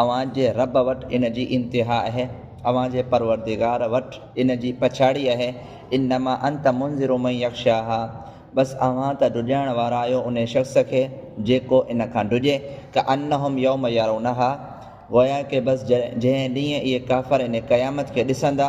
اوهان جي رب وٽ ان جي انتها آهي، اوهان جي پروردگار وٽ ان جي پڇاڙي آهي، انما انت منذر من يخشاها بس اوهان ته ڊڄائڻ وارا آهيو انهي شخص کي جيڪو ان کان ڊڄي، ڪأنهم يوم يرونها گويا ڪه بس جنهن ڏينهن اهي ڪافر ان قيامت کي ڏسندا.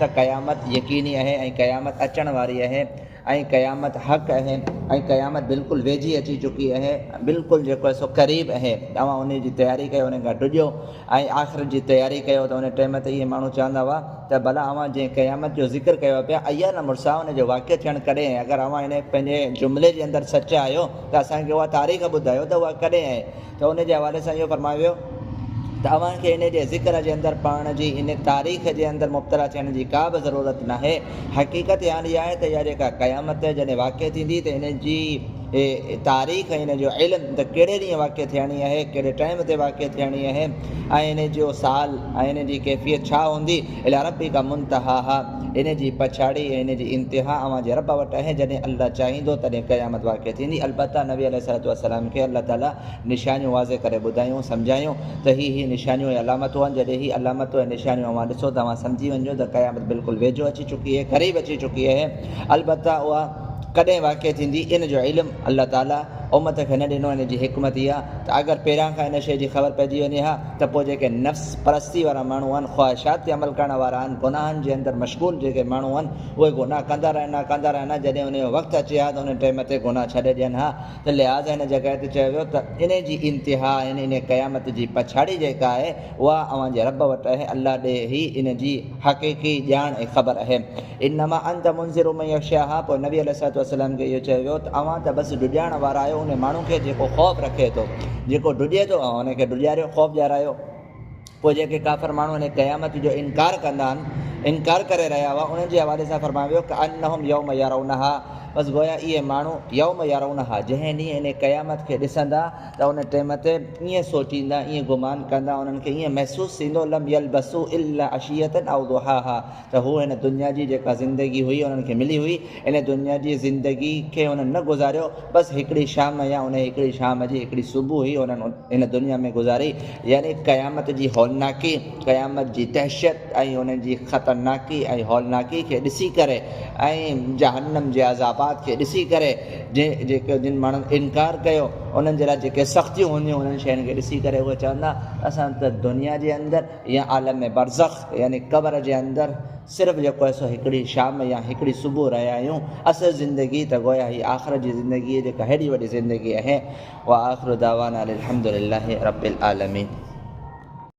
ته قيامت يقيني اهي ۽ قيامت اچڻ واري اهي ۽ قيامت حق اهي ۽ قيامت بلڪل ويجهي اچي چڪي اهي بلڪل جيڪو اهي سو قريب اهي اوهان انهي جي تياري ڪيو انهي کان ڊڄو ۽ آخرت جي تياري ڪيو ته انهي ٽيم تي اهي ماڻهو چوندا هئا ته ڀلا اوهان جنهن قيامت جو ذڪر ڪيو پيا ايا نه مرسا انهي جو واقع ٿيڻ ڪڏهن اهي اگر اوهان انهي پنهنجي جملي جي اندر سچا آهيو ته اسان کي اها تاريخ ٻڌايو ته اها ڪڏهن اهي ته ان جي حوالي سان اهو فرمايو ويو ته اوهان کي ان جي ذڪر جي اندر پاڻ جي ان تاريخ جي اندر مبتلا ٿيڻ جي ڪا به ضرورت ناهي، حقيقت حال اها آهي ته اها جيڪا قيامت جڏهن واقع ٿيندي ته ان جي تاريخ ۽ ان جو علم ته ڪهڙي ڏينهن واقع ٿيڻي آهي، ڪهڙي ٽائيم تي واقع ٿيڻي آهي ۽ ان جو سال ۽ ان جي ڪيفيت ڇا هوندي. اليٰ ربک منتهاها، ان جي پڇاڙي ۽ ان جي انتها اوهان جي رب وٽ آهي، جڏهن الله چاهيندو تڏهن قيامت واقع ٿيندي، البته نبي عليه الصلوة والسلام کي الله تعاليٰ نشانيون واضح ڪري ٻڌايون، سمجهايون ته هي هي نشانيون ۽ علامتون آهن، جڏهن هي علامتون ۽ نشانيون اوهان ڏسو ته اوهان سمجهي وڃجو ته قيامت بلڪل ويجهو اچي چڪي آهي، قريب اچي چڪي آهي، البته اها ڪڏهن واقع ٿيندي ان جو علم الله تعاليٰ امت کي نه ڏنو، ان جي حڪمت اها ته اگر پهريان کان ان شيء جي خبر پئجي وڃي ها ته پوء جيڪي نفس پرستي وارا ماڻهو آهن، خواهشات تي عمل ڪرڻ وارا آهن، گناهن جي اندر مشغول جيڪي ماڻهو آهن، اهي گناهه ڪندا رهن ها، ڪندا رهن ها، جڏهن انهي جو وقت اچي ها ته انهي ٽيم تي گناهه ڇڏي ڏين ها، ته لهٰذا هن جڳهه تي چيو ويو ته انهي جي انتها يعني انهي قيامت جي پڇاڙي جيڪا آهي، اها اوهان جي رب وٽ اهي، الله ڏي ئي انهي جي حقيقي ڄاڻ ۽ خبر اهي. انما انت منذر من يخشاها پوء نبي عليه الصلوة والسلام کي اهو چيو ويو ته اوهان ته بس ڊڄارڻ وارا آهيو ان ماڻهو کي جيڪو خوف رکي ٿو جيڪو ڊڄي ٿو اوهان ان کي ڊڄاريو خوف ڏيارايو پوء جيڪي ڪافر ماڻهو هن قيامت جو انڪار ڪندا آهن انڪار ڪري رهيا هئا انهن جي حوالي سان فرمايو ويو ڪانهم يوم يرونها بس گويا اهي ماڻهو يوم يرونها جنهن ڏينهن ان قيامت کي ڏسندا ته ان ٽيم تي ائين سوچيندا ائين گمان ڪندا انهن کي ائين محسوس ٿيندو لم يلبسو الا عشيه او ضحاها ته هو هن دنيا جي جيڪا زندگي هئي انهن کي ملي هئي، ان دنيا جي زندگي کي انهن نه گذاريو، بس هڪڙي شام يا انهيء هڪڙي شام جي هڪڙي صبح ئي انهن هن دنيا ۾ گذاري، يعني قيامت جي هولناڪي، قيامت جي دهشت ۽ ان جي خطرناڪي ۽ هولناڪي کي ڏسي ڪري ۽ جهنم جي عذابات کي ڏسي ڪري، جيڪي جن ماڻهن انڪار ڪيو انهن جي لاء جيڪي سختيون هونديون انهن شين کي ڏسي ڪري اهي چوندا اسان ته دنيا جي اندر يا عالم برزخ يعني قبر جي اندر صرف جيڪو آهي سو هڪڙي شام يا هڪڙي صبح رهيا آهيون، اصل زندگي ته گويا هي آخرت جي زندگي جيڪا هيڏي وڏي زندگي اهي. واخر دعوانا ان الحمدلله رب العالمين.